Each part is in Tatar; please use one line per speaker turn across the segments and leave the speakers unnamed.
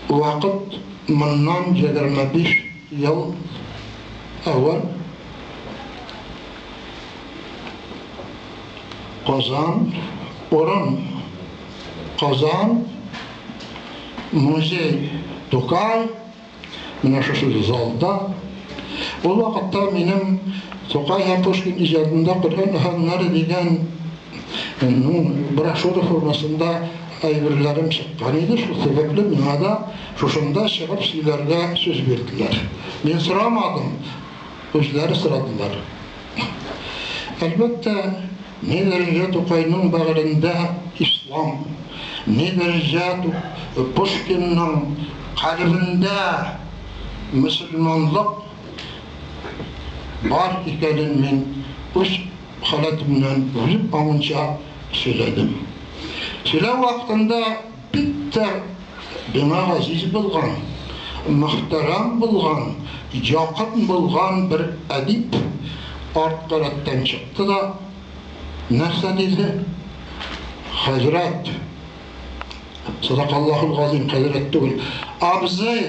Вакыт моннан егерме биш ел әвәл Казан урын Казан музей Тукай менә шушы залда ул вакытта минем Тукай һәм Пушкин иҗатында Коръән әһәңнәре дигән Минем брошюра формасында әйберләрем чыккан иде, шул сәбәпле миңа да шушында чыгып сөйләргә сүз бирделәр. Мин сорамадым, үзләре сорадылар. Әлбәттә, ни дәрәҗә Тукайның бәгырендә ислам, ни дәрәҗә Пушкинның калебендә мөселманлык бар икәнен мин үз халәтемнән үлеп калганча сөйләдем. Сөйләү вакытында бик тә миңа газиз булган, мөхтәрәм булган, якын булган бер әдип арткы рәттән чыкты да нәрсә диде, Хәзрәт, садакаллаһул газыйм, хәзрәт түгел, абзый!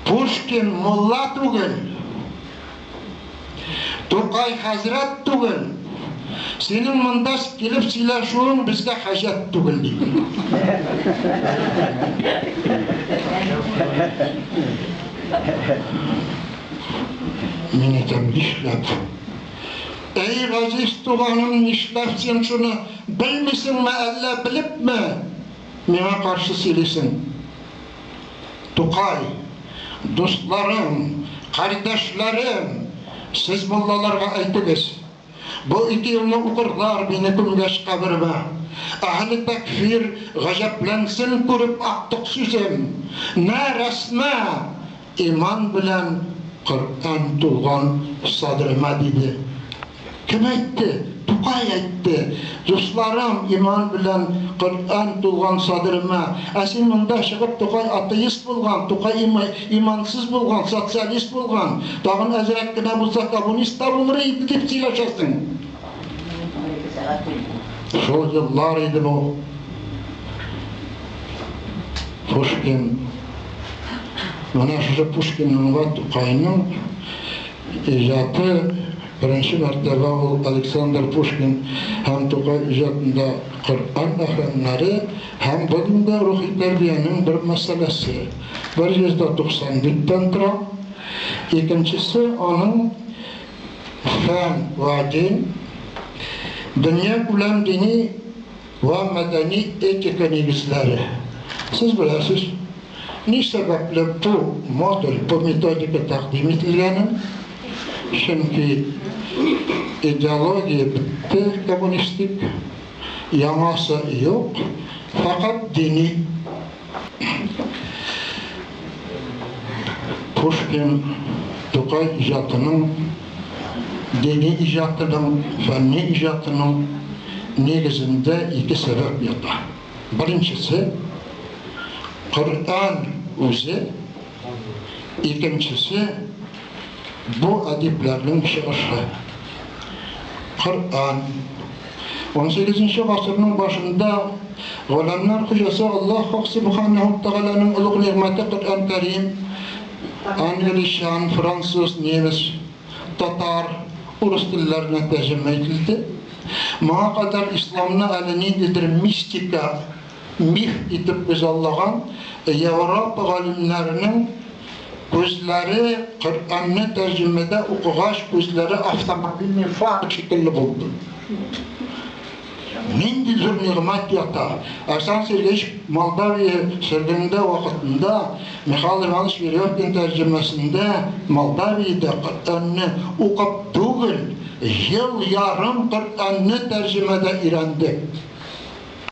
Пушкин мулла түгел, Тукай хәзрәт түгел, синең монда килеп сөйләшүең безгә хаҗәт түгел, диде. Мин әйтәм, нишләп? Әй, газиз туганым, нишләп син шуны, белмисеңме, әллә белепме? Миңа каршы сөйлисең, Тукай! Дустларым, кардәшләрем, сез муллаларга әйтегез, бу ике елны укырлар мине күмгәч каберемә. Әһле тәкфир гаҗәпләнсен күреп актык сүзем. Мә, рәсмә! Иман белән Коръән тулган садремә, диде. Кем әйтте? Тукай әйтте. Дусларым, иман белән Коръән тулган садырыма. Ә син монда чыгып Тукай атеист булган, Тукай имансыз булган, социалист булган, тагын әзрәк кенә булса коммунист та булыр иде дип сөйләшәсең. Шул еллар иде бу. Пушкин. Менә шушы Пушкинның вә Тукайның Иҗаты, беренче мәртәбә ул Александр Пушкин һәм Тукай иҗатында Коръән мәхрәмнәре һәм бүген дә рухи тәрбиянең бер мәсьәләсе, 190 биттән тора. Икенчесе аның Фән вә дин, дөньякүләм дини, Ва мәдәни этика нигезләре. Сез беләсез, ни сәбәпле бу модуль, бу методика тәкъдим ителгәнен? Чөнки идеология бетте, коммунистик, яңасы юк, фәкать дини. Пушкин, Тукай иҗатының, дини иҗатының, фәнни иҗатының нигезендә ике сәбәп ята. Беренчесе, Коръән үзе, Икенчесе, бу әдипләрнең чыгышы. Коръән. Унсигезенче гасырның башында Галәмнәр хуҗасы Аллаһ Хак Субханәһү вә Тәгаләнең олуг нигъмәте Коръән Кәрим англичан, француз, немец, татар, урыс телләренә тәрҗемә ителде. Моңа кадәр исламны әле ниндидер мистика миф итеп күзаллаган Европа галимнәренең күзләре Коръәнне тәрҗемәдә укыгач, күзләре автомобильный фара шикелле булды. Нинди зур нигъмәт ята! Александр Сергеевич Молдавия сөргенендә вакытында Михаил Иванович Веревкин тәрҗемәсендә Молдавиядә Коръәнне укып түгел, ел ярым Коръәнне тәрҗемәдә өйрәндек.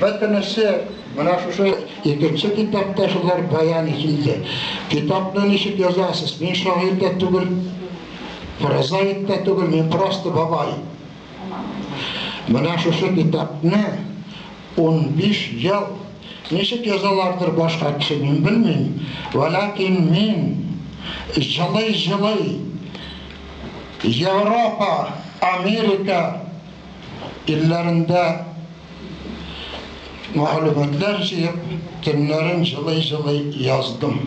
Бөтенесе менә шушы икенче китапта шулар баян ителде. Китапны ничек язасыз? Мин шагыйрь дә түгел, прозаик та түгел, мин просто бабай. Менә шушы китапны унбиш ел ничек язалардыр башка кеше, мин белмим, вәләкин мин җылый-җылый Европа, Америка Телләрендә мәгълүматлар җыеп, төннәрен җылый-җылый яздым.